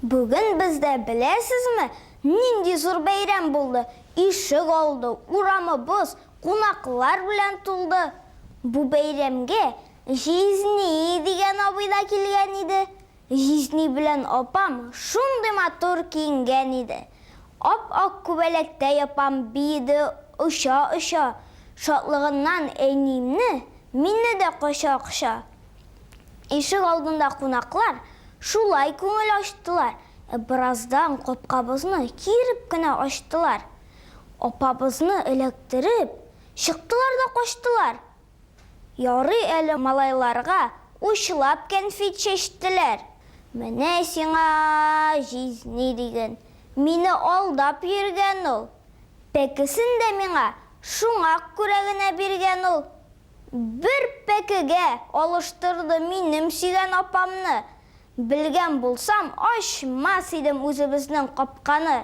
Бүген бездә беләсезме, нинди зур бәйрәм булды? Ишек алды, урамыбыз кунаклар белән тулды. Бу бәйрәмгә Җизни дигән абый да килгән иде. Җизни белән апам шундый матур киенгән иде. Ап-ак күбәләктәй апам биеде оча-оча, шатлыгыннан әниемне, мине дә коча-коча. Ишек алдында кунаклар шулай күңел ачтылар, ә бераздан капкабызны киереп кенә ачтылар. Апабызны эләктереп, чыктылар да качтылар. Ярый әле малайларга учлап кәнфит чәчтеләр. Менә сиңа җизни диген. Мине алдап йөргән ул. Пәкесен дә миңа шуңа күрә генә биргән ул. Бер пәкегә алыштырды минем сөйгән апамны. Белгән булсам, ачмас идем үзебезнең капканы.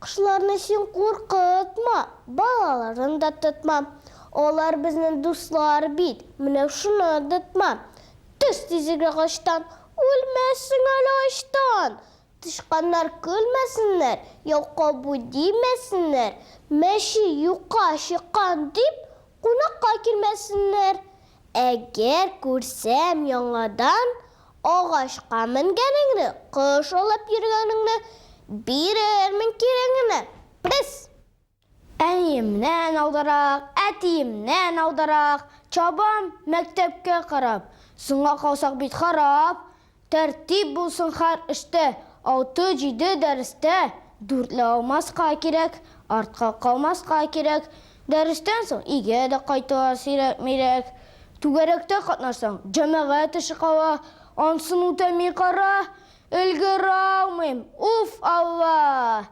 Кошларны син куркытма, балаларын да тотма. Алар безнең дуслар бит, менә шуны онытма. Төш тизрәк агачтан, үлмәссең әле ачтан! Тычканнар көлмәсеннәр, яу кабу димәсеннәр, мәче юкка чыккан дип, кунакка килмәсеннәр. Әгәр күрсәм яңадан агачка менгәнеңне, кош алып йөргәнеңне, бирермен кирәгеңә. Пес! Әниемнән алдарак, әтиемнән алдарак чабам мәктәпкә карап, соңга калсак бит харап, Тәртип булсын хәр эштә, алты-җиде дәрестә дүртле алмаска кирәк, артка калмаска кирәк, дәрестән соң өйгә дә кайтуга сирәкмирәк. Түгәрәктә катнашсаң, җәмәгать эше кала, ансын үтәми кара, өлгералмыйм, уф, Алла!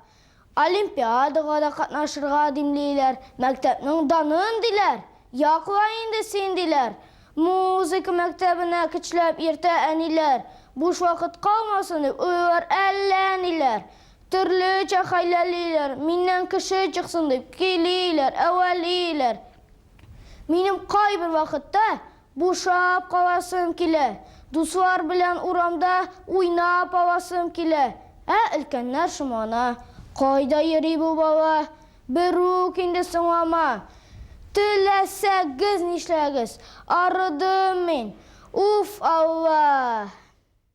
Олимпиадага да катнашырга димлиләр, мәктәпнең данын, диләр. Якла инде син, диләр. Музыка мәктәбенә көчләп йөртә әниләр. Буш вакыт калмасын дип, уйлыйлар әллә ниләр. Төрлечә хәйләлиләр, миннән кеше чыксын дип, көйлиләр, әвәлиләр. Минем кайбер вакытта Бушап каласым килә. Дуслар белән урамда уйнап аласым килә. Ә өлкәннәр шомлана. Кайда йөри бу бала? Берүк инде соңлама. Теләсәгез нишләгез, арыдым мин. Уф, Аллаһ!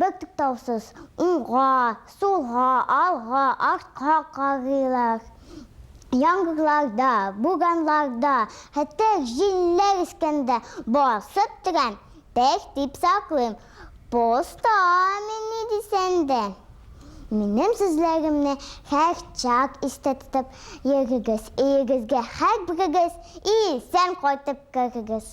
Бертуктаусыз уңга, сулга, алга, артка карыйлар. Яңгырларда, бураннарда, хәтта җилләр искәндә басып торам, пех дип саклыйм. Поста мин ни дисәң дә. Минем сүзләремне һәрчак истә тотып йөрегез, өегезгә һәрберегез исән кайтып керегез.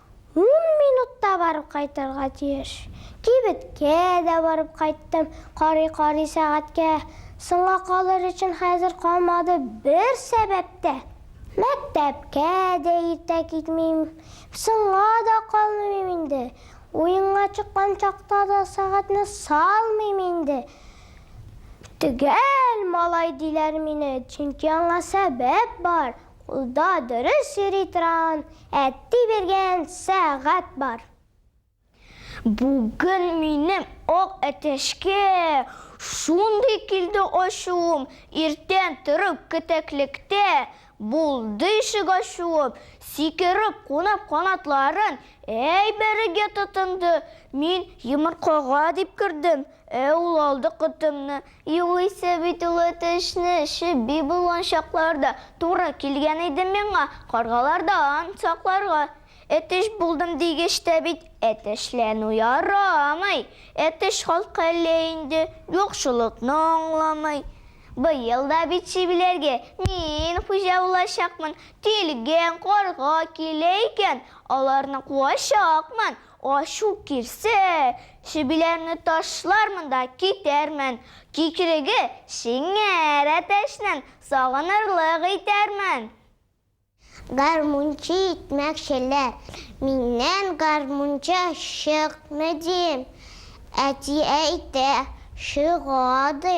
Ун минутта барып кайтырга тиеш. Кибеткә дә барып кайттым, карый-карый сәгатькә, соңга калыр өчен хәзер калмады бер сәбәп тә. Мәктәпкә дә иртә китмим, соңга да калмыйм инде, уенга чыккан чакта да сәгатьне салмыйм инде. Төгәл малай диләр мине, чөнки аңа сәбәп бар, Ул да дөрес йөри торган әти биргән сәгать бар. Бүген минем ак әтәчкә шундый килде ачуым, иртән торып кетәклектә булды ишек ачуым, сикереп кунып канатларын әйберегә тотынды, мин йомыркага дип кердем, ә ул алды котымны, Югыйсә бит ул әтәчне чеби булган чакларда туры килгән иде миңа каргалардан сакларга. Әтәч булдым дигәч тә бит әтәчләнү ярамый. Әтәч халкы әллә инде юкчылыкны аңламый. Быел да бит чебиләргә мин хуҗа булачакмын. Тилгән карга килә икән, аларны куачакмын. Ачу килсә, чебиләрне ташлармын да китәрмен, кикриге шиңәр әтәчнен сагынырлык итәрмен. Гармунчы итмәкчеләр, миннән гармунчы чыкмый дим. Әти әйтә, чыга ди,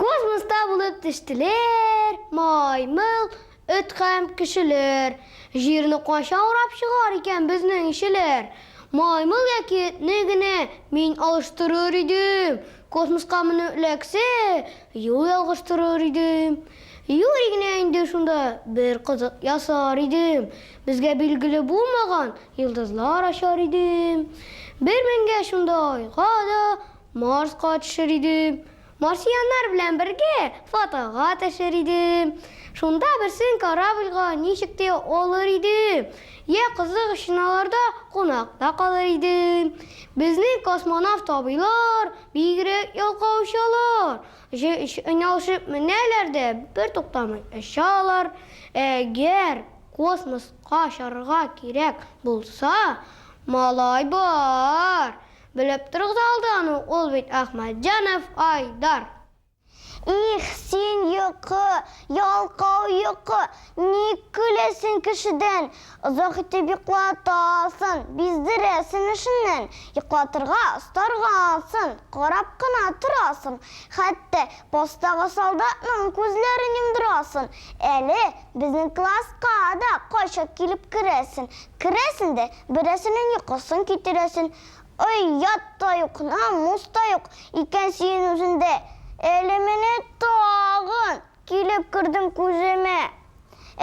Космоста булып төштеләр, маймыл, эт һәм кешеләр. Җирне кайчан урап чыгар икән безнең ишеләр? Маймыл яки этне генә мин алыштырыр идем, космоска менү эләксә, юл ялгыштырыр идем. Юри генә инде шунда бер кызык ясар идем, безгә билгеле булмаган йолдызлар ачар идем. Бер менгәч шунда айга да, Марска төшер идем. Марсианнар белән бергә фотога төшер идем. Шунда берсен корабльга ничек тә алыр идем. Йә кызык өчен аларда кунакта калыр идем. Безнең космонавт абыйлар бигрәк ялкау очалар. Җәй өчен ялышып менәләр дә бертуктамый очалар. Әгәр космоска очарга кирәк булса, малай бар. Белеп торыгыз алдан ук, ул бит Ахмәтҗанов Айдар. Их, син йокы, ялкау йокы, ник көләсең кешедән? Озак итеп йоклатасын, биздерәсең эшеннән. Йоклатырга остаргансын, карап кына торасың. Хәтта постагы солдатның күзләрен йомдырасын. Әле безнең класска да кайчак килеп керәсең. Керәсең дә, Берәрсенең йокысын китерәсен, Оят та юк, намус та юк икән сиен үзендә. Әле менә тагын килеп кердең күземә.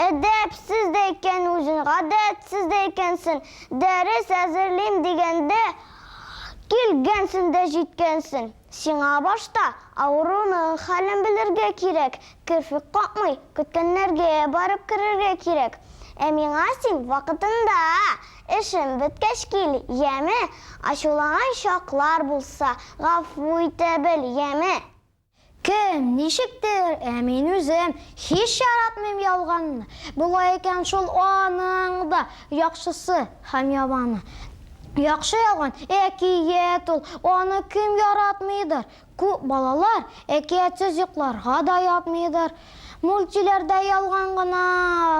Әдәпсез дә икән үзен, гадәтсез дә икәнсен. Дәрес әзерлим дигәндә, килгәнсен дә җиткәнсен. Сиңа башта авыруның хәлен белергә кирәк, керфек какмый, көткәннәргә барып керергә кирәк. Ә миңа син вакытында, эшем беткәч кил, яме? Ачулаган чаклар булса, гафу итә бел, яме? Кем, ничектер, ә мин үзем һич яратмыйм ялганны. Болай икән шул аның да яхшысы һәм яманы. Яхшы язган әкият ул, аны кем яратмыйдыр? Күп балалар әкиятсез йокларга да ятмыйдыр. Мультиләрдә ялган гына,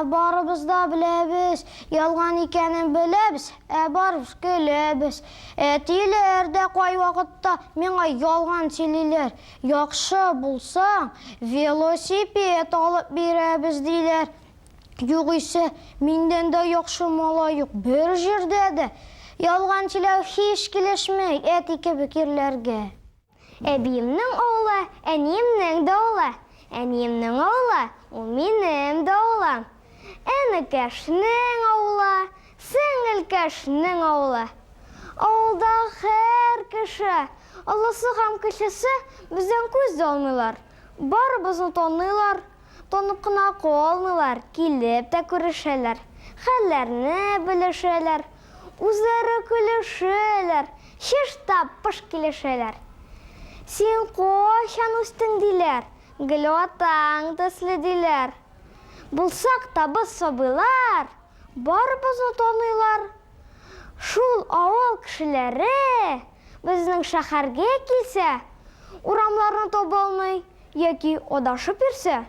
барыбыз да беләбез, ялган икәнен беләбез, ә барыбыз көләбез. Әтиләр дә кайвакытта миңа ялган сөйлиләр, яхшы булсаң, велосипед алып бирәбез, диләр. Югыйсә, миндән дә яхшы малай юк бер җирдә дә! Ялган сөйләү һич килешмәй әти кебек ирләргә. Әбиемнең авылы, әниемнең дә авылы. Әниемнең авылы, ул минем дә авылым. Энекәшнең авылы, сеңелкәшнең авылы. Авылдагы һәр кеше, олысы һәм кечесе, бездән күз дә алмыйлар. Барыбызны таныйлар. Тонып кына калмыйлар, килеп тә күрешәләр, хәлләрне белешәләр, үзләре көлешәләр, чыштап-пыш килешәләр. Син кайчан үстең, диләр, гел атаң төсле, диләр. Булсак та без сабыйлар, барыбызны таныйлар. Шул авыл кешеләре безнең шәһәргә килсә, урамларны таба алмый. Яки адашып йөрсә,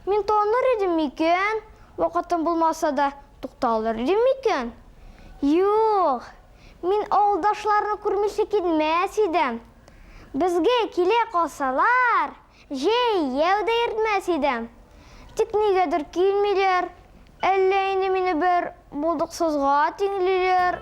мин таныр идем микән? Вакытым булмаса да, тукталыр идем микән? Юк, мин авылдашларны күрмичә китмәс идем. Безгә килә калсалар, җәй, яу да йөртмәс идем. Тик нигәдер килмиләр. Әллә инде мине бер булдыксызга тиңлиләр?